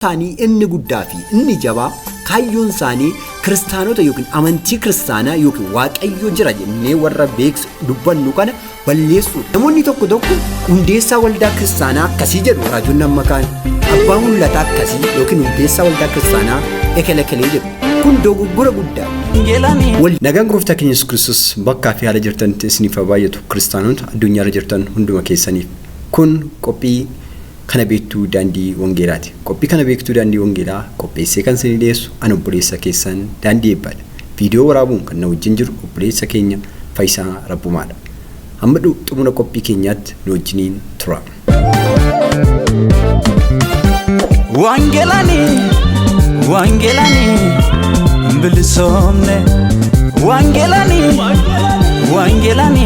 isaanii inni guddaa fi inni jabaa kaayyoon isaanii kiristaanota yookiin amantii kiristaanaa yookiin waaqayyo jira jennee warra beeksu dubbannu kana balleessuudha. Namoonni tokko tokko hundeessaa waldaa kiristaanaa akkasii jedhu raajonni amma kaan abbaa mul'ataa akkasii yookiin hundeessaa waldaa kiristaanaa ekelekelee jedhu kun dogoggora guddaa. Wal nagaan gooftaa keenya Yesuus Kiristoos bakkaa fi haala jirtanitti isiniif haa baay'atu kiristaanota addunyaarra jirtan hunduma keessaniif kun qophii Kana Beektuu Daandii Wangeelaati. Qophii Kana Beektuu Daandii Wangeelaa qopheessee kan isinii dhiyeessu an obboleessa keessan Daandii Eebbaadha. Viidiyoo waraabuun kan na wajjin jiru obboleessa keenya Fayisaa Rabbumaadha. Hamma dhu xumura qophii keenyaatti nu wajjiniin turaa. Wangelani, Wangelani, bilisomne. Wangelani, Wangelani,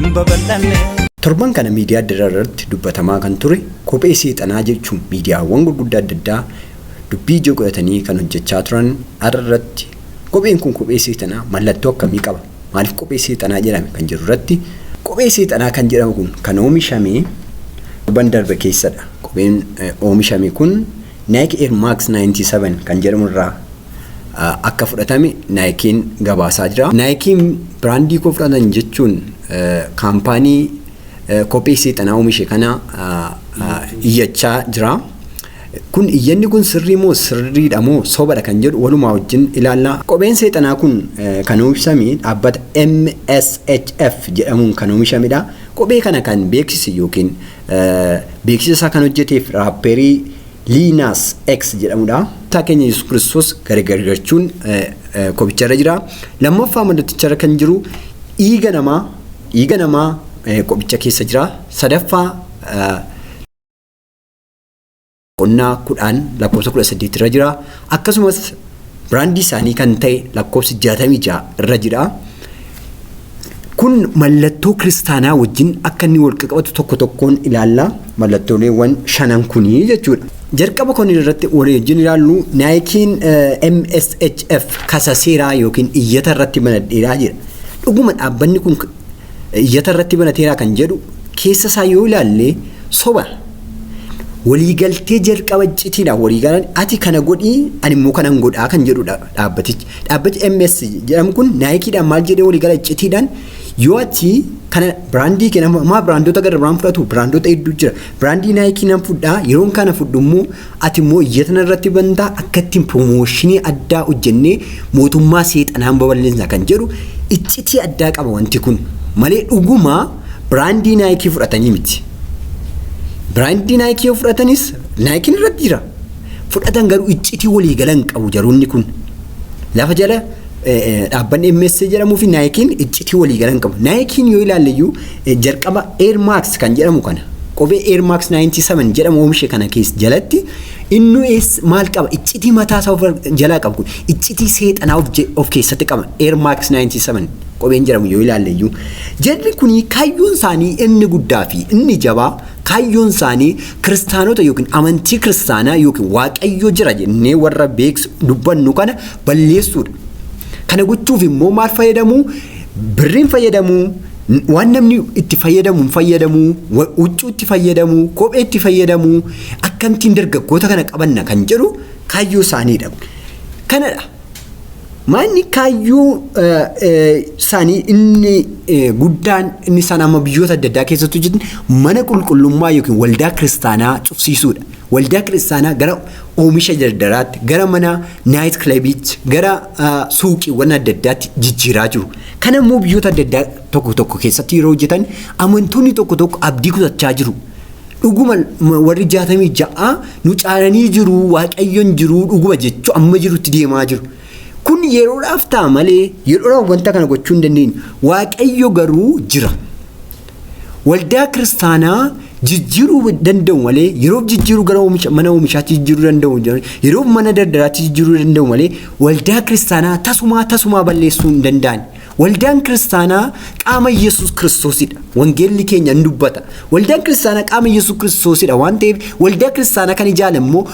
hin babal'anne. Torban kana miidiyaa adda addaa irratti dubbatamaa kan ture kophee seexanaa jechuun miidiyaawwan gurguddaa adda addaa dubbii ijoo godhatanii kan hojjechaa turan har'a irratti kopheen kun kophee seexanaa mallattoo akkamii qaba? Maaliif kophee seexanaa jedhame kan jedhu irratti kophee seexanaa kan jedhamu kun kan oomishame torban darbe keessadha. Kopheen oomishame kun Nike Air Max 97 kan jedhamu irraa akka fudhatame Nike'n gabaasaa jira. Nike'n biraandii koo fudhatan jechuun kaampaanii kophee seexanaa oomishe kana iyyachaa jira. Kun iyyanni kun sirrii moo sirriidha moo sobadha kan jedhu walumaa wajjin ilaalla. Kopheen seexanaa kun kan oomishame dhaabbata MSHF jedhamuun kan oomishamedha. Kophee kana kan beeksise yookiin Beeksisa isaa kan hojjeteef raappeerii Lil Nas X jedhamudha. Gooftaa keenya Yesuus Kiristoos gargargachuun kophicharra jira. Lammaffaa mallaticharra kan jiru dhiiga namaa dhiiga namaa kophicha keessa jira. Sadaffaa boqonnaa kudhaan lakkoofsa kudha saddeet irra jira. Akkasumas biraandii isaanii kan ta'e lakkoofsi jaatamii ja'a irra jira. Kun mallattoo kiristaanaa wajjin akka inni wal qabatu tokko tokkoon ilaalla. Mallattooleewwan shanan kunii jechuudha. Jalqaba kun irratti waliin ilaallu naayikiin MSHF kasa seeraa yookiin iyyata irratti banadheeraa jira. Dhuguma dhaabbanni kun iyyata irratti banateeraa kan jedhu keessa isaa yoo ilaalle soba. Waliigaltee jalqaba citiidhaan waliigalan ati kana godhii ani immoo kanan godhaa kan jedhudha dhaabbatichi. Dhaabbati MS jedhamu kun naayikiidhaan maal jedhee waliigala citiidhaan yoo ati kana biraandii kenna maa biraandoota gara biraan fudhatu biraandoota hedduu jira. Biraandii naayikii nan fudhaa yeroon kana fudhu immoo Ati immoo iyyata narratti banta, akka ittiin piroomooshinii addaa hojjennee mootummaa seexanaan babal'isna kan jedhu iccitii addaa qaba wanti kun. Malee dhuguma biraandii naayikii fudhatanii miti. Biraandii naayikii yoo fudhatanis naayikiin irratti jira. Fudhatan garuu iccitii walii galan qabu jaroonni kun. Lafa jala Dhaabbanni MSC jedhamuu fi Naayikiin iccitii waliigalan qabu. Naayikiin yoo ilaalle iyyuu jalqaba Air Max kan jedhamu kana kophee Air Max 97 jedhamu oomishe kana keessa jalatti innu maal qaba iccitii mataa isaa of jalaa qabu kun iccitii seexanaa of, of keessatti qaba Air Max 97 kopheen jedhamu yoo ilaalle iyyuu jarri kun kaayyoon isaanii inni guddaa fi inni jabaa kaayyoon isaanii kiristaanota yookiin amantii kiristaanaa yookiin waaqayyo jira jennee warra beeksu dubbannu kana balleessuudha. Kana gochuuf immoo maal fayyadamuu? Birriin fayyadamuu, waan namni itti fayyadamu hin fayyadamuu, wa- huccuu itti fayyadamuu, kophee itti fayyadamuu, akkamittiin dargaggoota kana qabanna kan jedhu kaayyoo isaaniidha. Kanadha. Maanni kaayyoo eh, eh, isaanii inni eh, guddaan inni isaan amma biyyoota adda addaa keessatti hojjetan mana qulqullummaa yookiin waldaa kiristaanaa cufsiisuudha. Waldaa kiristaanaa gara oomisha dardaraatti, gara mana naayit kilabiitti, gara suuqiiwwan adda addaatti jijjiiraa jiru. Kana immoo biyyoota adda addaa tokko tokko keessatti yeroo hojjetan amantoonni tokko tokko abdii kutachaa jiru. Dhuguma warri jaatamii ja'a nu caalanii jiru, waaqayyoon jiru, dhuguma jechuu amma jirutti deemaa jiru. Kun yeroodhaaf ta'a malee yeroodhaaf wanta kana gochuu hin dandeenyu. Waaqayyo garuu jira. Waldaa kiristaanaa jijjiiruu danda'u malee yeroof jijjiiruu gara oomisha, mana oomishaatti jijjiiruu danda'u yeroof mana daldalaatti jijjiiruu danda'u malee waldaa kiristaanaa tasumaa tasumaa balleessuu hin danda'an. Waldaan kiristaanaa qaama Yesuus Kiristoosidha. Wangeelli keenya hin dubbata. Waldaan kiristaanaa qaama Yesuus Kiristoosidha waan ta'eef waldaa kiristaanaa kan ijaale immoo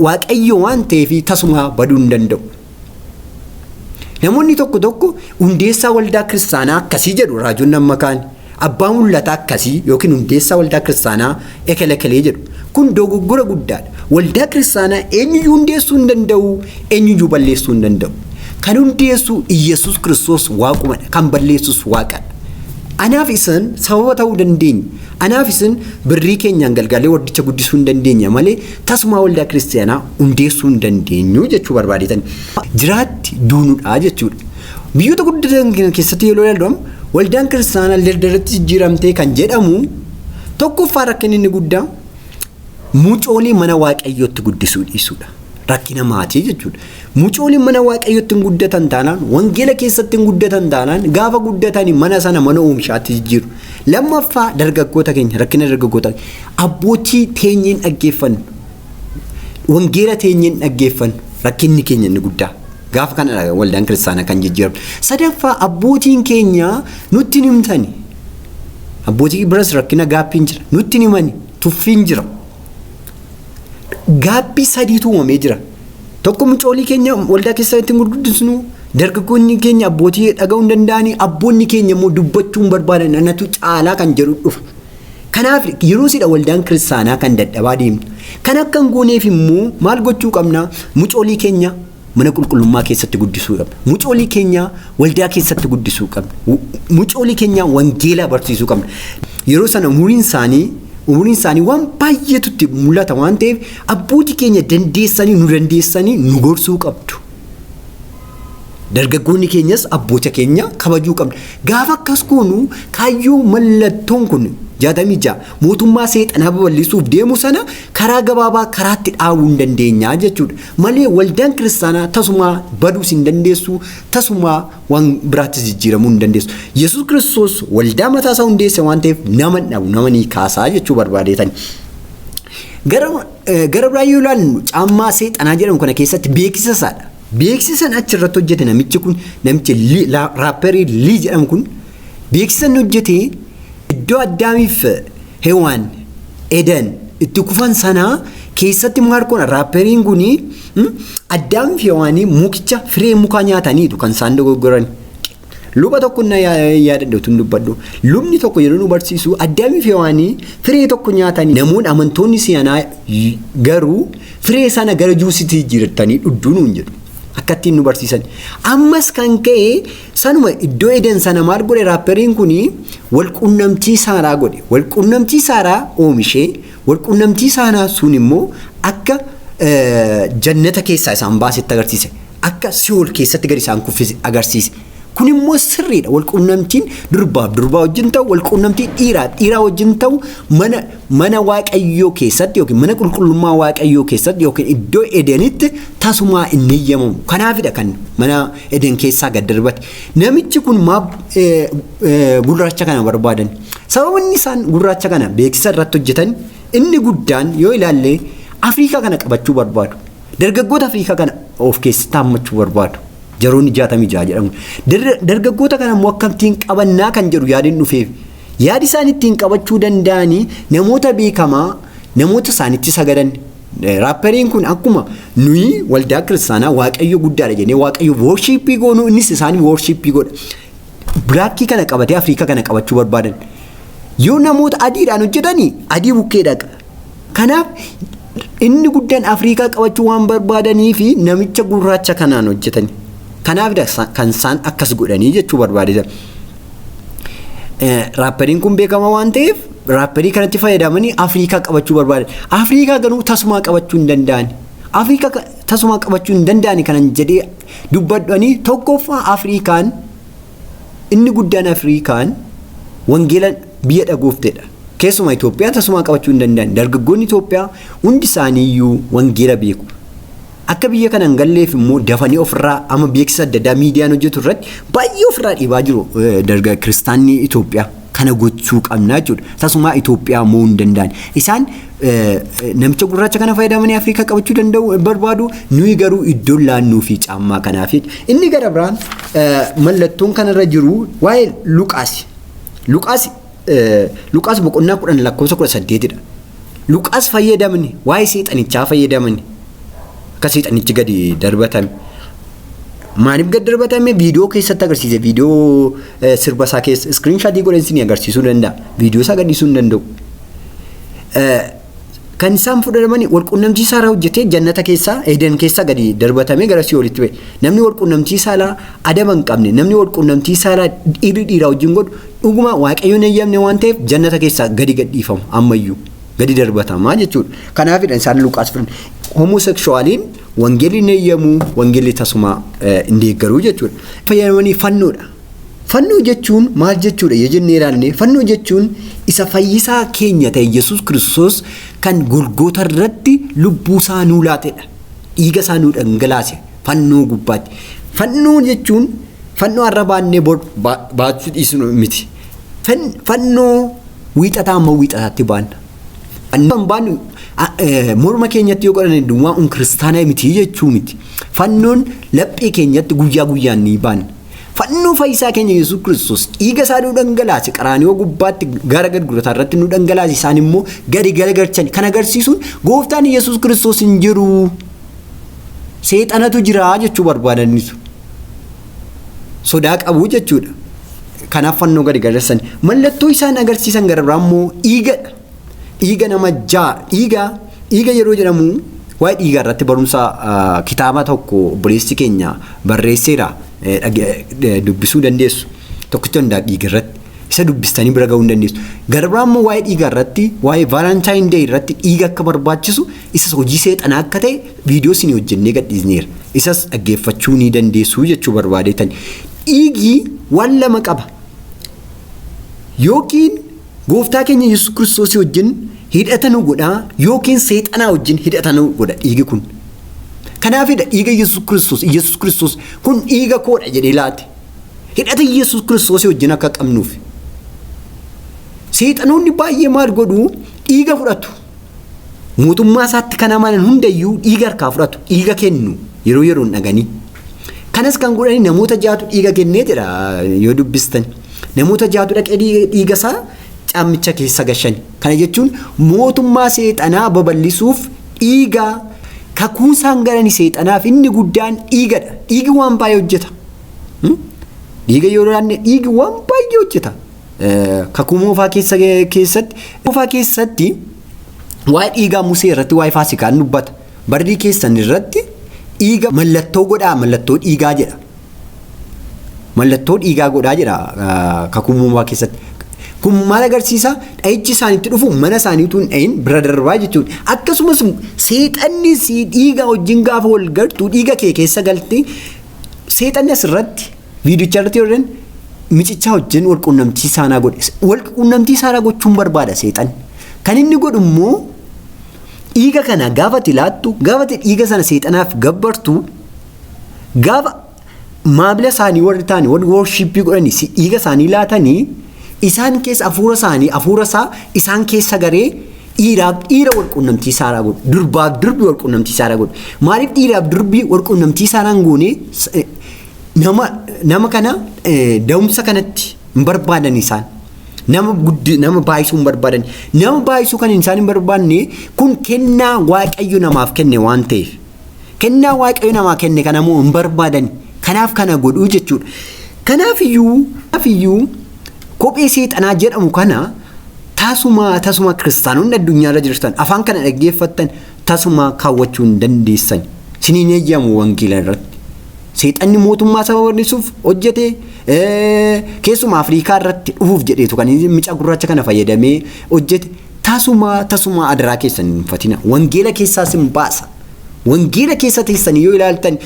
Waaqayyo waan ta'eef tasumaa baduu hin danda'u. Namoonni tokko tokko hundeessaa waldaa kiristaanaa akkasii jedhu raajonni amma kaan abbaa mul'ataa akkasii yookiin hundeessaa waldaa kiristaanaa ekelekelee jedhu. Kun dogoggora guddaadha. Waldaa kiristaanaa eenyuyyuu hundeessuu hin danda'u, eenyuyyuu balleessuu hin danda'u. Kan hundeessu Iyyasuus Kiristoos waaqumadha, kan balleessus waaqadha. Anaaf isan sababa ta'uu dandeenya. Anaa fi isin birrii keenyaan galgaalee waldicha guddisuu hin dandeenya malee tasumaa waldaa kiristiyaanaa hundeessuu hin dandeenyu jechuu barbaadeetani. Jiraatti duunudhaa jechuudha. Biyyoota guddatan keessatti yeroo ilaallu waldaan kiristaanaa dardaratti jijjiiramtee kan jedhamu tokkoffaa rakkinni inni guddaa Mucoolii mana waaqayyootti guddisuu dhiisuudha. Rakkina maatii jechuudha. Mucooliin mana waaqayyootti hin guddatan taanaan, wangeela keessatti hin guddatan taanaan, gaafa guddatani mana sana mana oomishaatti jijjiiru. Lammaffaa dargaggoota keenya rakkina dargaggoota abbootii teenyeen dhaggeeffannu. Wangeela teenyeen dhaggeeffannu rakkinni keenya inni guddaa. Gaafa kana waldaan kiristaanaa kan jijjiiramu. Sadaffaa abbootiin keenya nutti hin himtani. Abbootii biras rakkina gaappiin jira. Nutti hin himani. tuffiin jira. Gaabbii sadiitu uumamee jira. Tokko mucoolii keenya waldaa keessaa ittiin gurguddisnu dargaggoonni keenya abbootii dhaga'uu hin danda'anii abboonni keenya immoo dubbachuu hin barbaadan anatu caalaa kan jedhu dhufa. Kanaaf yeroo sidha waldaan kiristaanaa kan dadhabaa deemtu. Kan akka hin gooneef immoo maal gochuu qabna mucoolii keenya mana qulqullummaa keessatti guddisuu qabna. Mucoolii keenya waldaa keessatti guddisuu qabna. Mucoolii keenya wangeelaa barsiisuu qabna. Yeroo sana umuriin isaanii umuriin isaanii waan baay'eetu itti mul'ata waan ta'eef abbootii keenya dandeessanii nu dandeessanii nu gorsuu qabdu. Dargaggoonni keenyas abboota keenya kabajuu qabna. Gaafa akkas goonu kaayyoo mallattoon kun jaatamii ja'a mootummaa seexanaa babal'isuuf deemu sana Karaa gabaabaa karaatti dhaabuu hin dandeenya jechuudha. Malee waldaan kiristaanaa tasumaa baduus hin dandeessu, tasumaa waan biraattis jijjiiramuu hin dandeessu. Yesuus Kiristoos waldaa mataa isaa hundeesse waan ta'eef nama hin dhabu, nama ni kaasaa jechuu barbaadeetani. Gara eh, gara biraa yoo ilaallu caammaa seexanaa jedhamu kana keessatti beeksisa isaadha. Beeksisan achi irratti hojjete namichi kun namichi Lii- la- raapperii Lii jedhamu kun beeksisan hojjete iddoo addaamiif Hewaan, Eden, itti kufan sana keessatti maal godhan raapperiin kun Addaamii fi Hewaanii mukicha firee mukaa nyaataniitu kan isaan dogoggoran. Luba tokko na yaadadha utuu dubbadhu. Lubni tokko yeroo nu barsiisu Addaamii fi Hewaanii firee tokko nyaatanii namoonni amantoonni si'anaa garuu firee sana gara juusitti jijjiirratanii dhudduu nuun jedhu. Akka ittiin nu barsiisan. Ammas kan ka'e Sanuma iddoo Eden sana maal godhe raapperiin kun walqunnamtii saalaa godhe. Walqunnamtii saalaa oomishee walqunnamtii saalaa sun immoo akka jannata keessaa isaan baasetti agarsiise. Akka si'ool keessatti gadi isaan kuffise agarsiise. Kun immoo sirriidha. Walqunnamtiin durbaaf durbaa wajjin ta'u, walqunnamtii dhiiraaf dhiiraa wajjin ta'u mana Mana Waaqayyoo keessatti yookiin mana qulqullummaa Waaqayyoo keessatti yookiin iddoo Edenitti tasumaa hin heyyamamu. Kanaafidha kan mana Eden keessaa gad darbate. Namichi kun maaf gurraacha kana barbaadan? Sababni isaan gurraacha kana beeksisa irratti hojjetan inni guddaan yoo ilaalle Afriikaa kana qabachuu barbaadu. Dargaggoota Afriikaa kana of keessatti hammachuu barbaadu. Jaroonni jaatamii ja'a jedhamu. Dargaggoota kana immoo akkamittiin qabannaa kan jedhu yaadin dhufeef. Yaadi isaan ittiin qabachuu danda'anii namoota beekamaa namoota isaanitti sagadan raapperiin kun akkuma nuyi waldaa kiristaanaa waaqayyo guddaadha jennee waaqayyo worshiippii goonuu innis isaanii worshiippii godha. Bilaakkii kana qabatee Afrikaa kana qabachuu barbaadan. Yoo namoota adiidhaan hojjetanii adii bukkee dhaqa. Kanaaf inni guddaan Afrikaa qabachuu waan barbaadanii fi namicha gurraacha kanaan hojjetani. Kanaaf kan isaan akkas godhanii jechuu barbaadee jira. Raappariin kun beekamaa waan ta'eef raapparii kanatti fayyadamanii Afrikaa qabachuu barbaadan. Afrikaa garuu tasumaa qabachuu hin danda'an. Afrikaa tasumaa qabachuu hin danda'an kanan jedhee dubbadhanii tokkoffaa Afrikaan inni guddaan Afrikaan wangeela biyya dhagooftedha. Keessumaa Itoophiyaa tasumaa qabachuu hin danda'an. Dargaggoonni Itoophiyaa hundi isaaniiyyuu wangeela beeku. Akka biyya kana hin galleef immoo dafanii ofirraa amma beeksisa adda addaa miidiyaan hojjetu irratti baay'ee ofirraa dhiibaa jiru eh, darga kiristaanni Itoophiyaa. Kana gochuu qabna jechuudha. Tasumaa Itoophiyaa mo'uu hin danda'an. Isaan eh, eh, namicha gurraacha kana fayyadamanii Afrikaa qabachuu danda'u eh, barbaadu. Nuyi garuu iddoo laannuu fi caammaa kanaaf. Inni gara biraan eh, mallattoon kanarra jiru waa'ee Luqaasi. Luqaasi Luqaas boqonnaa kudhan lakkoofsa kudha saddeetidha. Luqaas fayyadamni waa'ee seexanichaa fayyadamni akka seexanichi gadi darbatame. Maaliif gad darbatame viidiyoo keessatti agarsiise viidiyoo sirba isaa keessa iskiriin shaatii godhan isin agarsiisuu danda'a. Viidiyoo isaa gadhiisuu hin danda'u. kan isaan fudhatamani wal qunnamtii saalaa hojjetee jannata keessaa eedan keessaa gadi darbatamee gara si'oolitti ba'e. Namni wal qunnamtii saalaa adaba hin qabne namni wal qunnamtii saalaa dhiirri dhiiraa wajjin godhu dhuguma waaqayyoon eeyyamne waan ta'eef jannata keessaa gadi gadhiifamu ammayyuu gadi darbatamaa jechuudha. Kanaafidha isaan Luqaas fudhan. Homoseksuwaaliin wangeelli hin eeyyamu wangeelli tasumaa hin deeggaru jechuudha. Fayyadamanii fannoodha. Fannoo jechuun maal jechuudha yoo jennee ilaalle fannoo jechuun isa fayyisaa keenya ta'e Yesuus Kiristoos kan Golgoota irratti lubbuu isaa nuu laatedha. Dhiiga isaa nuu dhangalaase fannoo gubbaatti. Fannoo jechuun fannoo har'a baannee bor baachuu dhiisnu miti. Fannoo wiixataa amma wiixataatti baanna. Fannoo kan baannu morma keenyatti yoo godhanne duwwaa kun kiristaanaa miti jechuu miti. Fannoon laphee keenyatti guyyaa guyyaan ni baanna. Fannoo fayyisaa keenya Yesuus Kiristoos dhiiga isaa nu dhangalaase qaraaniyoo gubbaatti gara gadgurataa irratti nu dhangalaase isaan immoo gadi galagalchan kan agarsiisuun gooftaan Yesuus Kiristoos hin jiru seexanatu jira jechuu barbaadaniitu sodaa qabu jechuudha. Kanaaf fannoo gadi galarsan mallattoo isaan agarsiisan gara biraa immoo dhiigadha. Dhiiga nama ja'a dhiiga dhiiga yeroo jedhamu waa'ee dhiigaa irratti barumsa ah, kitaaba tokko obboleessi keenya barreesseera eh, dhage- eh, dubbisuu dandeessu tokkicha hundaa dhiiga irratti isa dubbistanii bira ga'uu hin dandeessu gara biraa immoo waa'ee dhiigaa irratti waa'ee vaalaantaayini dee irratti dhiiga akka barbaachisu isas hojii seexanaa akka ta'e viidiyoo isin hojjennee gadhiisneera isas dhaggeeffachuu ni dandeessu jechuu barbaadeetan dhiigii waan lama qaba yookiin Gooftaa keenya Yesus Kiristoosii wajjin hidhata nu godha yookiin seexanaa wajjin hidhata nu godha dhiigi kun. Kanaafidha dhiiga Yesus Kiristoos, Yesus Kiristoos kun dhiiga koodha jedhee laate. Hidhata Yesus Kiristoosii wajjin akka qabnuuf. Seexanoonni baay'ee maal godhu dhiiga fudhatu. Mootummaa isaatti kan amanan hundayyuu dhiiga harkaa fudhatu, dhiiga kennu yeroo yeroon dhaganii. Kanas kan godhani namoota jaatu dhiiga kennee jedha yoo dubbistan. Namoota jaatu dhaqee dhiiga isaa caammicha keessa gashani. Kana jechuun mootummaa seexanaa babal'isuuf dhiiga kakuu isaan galani seexanaaf inni guddaan dhiigadha. Dhiigi waan baay'ee hojjeta. Dhiiga yoo laanne dhiigi waan baay'ee hojjeta. Kakuu moofaa keessatti moofaa keessatti waa'ee dhiigaa Musee irratti waa'ee faasikaa dubbata. Barrii keessan irratti dhiiga mallattoo godhaa mallattoo dhiigaa jedha. Mallattoo dhiigaa godhaa jedha kakuu uumamaa keessatti. Kun maal agarsiisa? Dha'ichi isaanitti dhufu mana isaanii utuu hin dhahin bira darbaa jechuudha. Akkasumas seexanni dhiiga wajjin gaafa wal gartuu dhiiga kee keessa galtee seexanni asirratti viidicha irratti yoo micichaa wajjin wal quunnamtii saanaa godhe. Wal quunnamtii saanaa gochuun barbaada seexanni. Kan inni godhu immoo Dhiiga kana gaafa ati laattu, gaafa ati dhiiga sana seexanaaf gabbartu, gaafa maamila isaanii warri taane warri worshiippii godhanii si dhiiga isaanii laatanii isaan keessa hafuura isaanii hafuura isaa isaan keessa garee dhiiraaf dhiira wal quunnamtii saalaa godhu durbaaf durbi wal quunnamtii saalaa godhu maaliif dhiiraaf durbi wal quunnamtii saalaa hin goone nama nama kana da'umsa kanatti hin barbaadan isaan. Nama guddi nama baay'isuu hin barbaadan. Nama baay'isuu kan isaan hin barbaanne kun kennaa waaqayyo namaaf kenne waan ta'eef. Kennaa waaqayyo namaa kenne kana immoo hin barbaadan. Kanaaf kana godhuu jechuudha. Kanaaf iyyuu kanaaf iyyuu kophee seexanaa jedhamu kana tasuma tasuma kiristaanonni addunyaarra jirtan afaan kana dhaggeeffattan tasumaa kaawwachuu hin dandeessani. Isinii hin eeyyamu wangeela irratti. Seexanni mootummaa isaa babal'isuuf hojjete keessumaa Afriikaa irratti dhufuuf jedheetu kan inni mucaa gurraacha kana fayyadamee hojjete tasumaa tasumaa adaraa keessan hin fatina. Wangeela keessaa sin baasa. Wangeela keessa teessanii yoo ilaaltan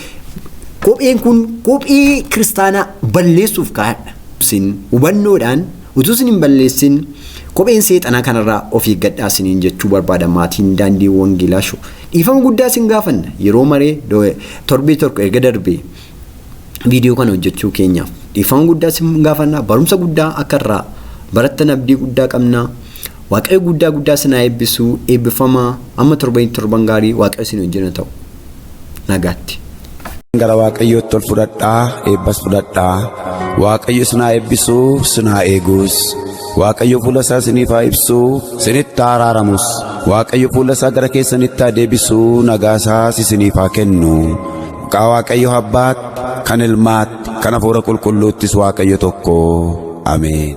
kopheen kun kophee kiristaanaa balleessuuf kaa'adha. Sin hubannoodhaan Utuu isin hin balleessin kopheen seexanaa kanarraa of eeggadhaa isiniin jechuu barbaada maatiin daandii wangeelaa show. Dhiifama guddaa isin gaafanna yeroo maree torbee tokko erga darbee viidiyoo kana hojjechuu keenyaaf. Dhiifama guddaa isin gaafanna barumsa guddaa akka irraa barattan abdii guddaa qabna. Waaqayyo guddaa guddaa isin haa eebbisu eebbifamaa amma torbanitti torban gaarii waaqayyo isin wajjin haa ta'u. nagaatti. Gara Waaqayyootti ol fudhadhaa eebbas fudhadhaa. Waaqayyo isin haa eebbisu, isin haa eegus. Waaqayyo fuula isaa isiniif haa ibsu, isinitti haa araaramus. Waaqayyo fuula isaa gara keessanitti haa deebisu, nagaa isaas isiniif haa kennu. Maqaa Waaqayyo Abbaatti, kan Ilmaatti, kan Hafuura Qulqulluuttis Waaqayyo tokko. Ameen.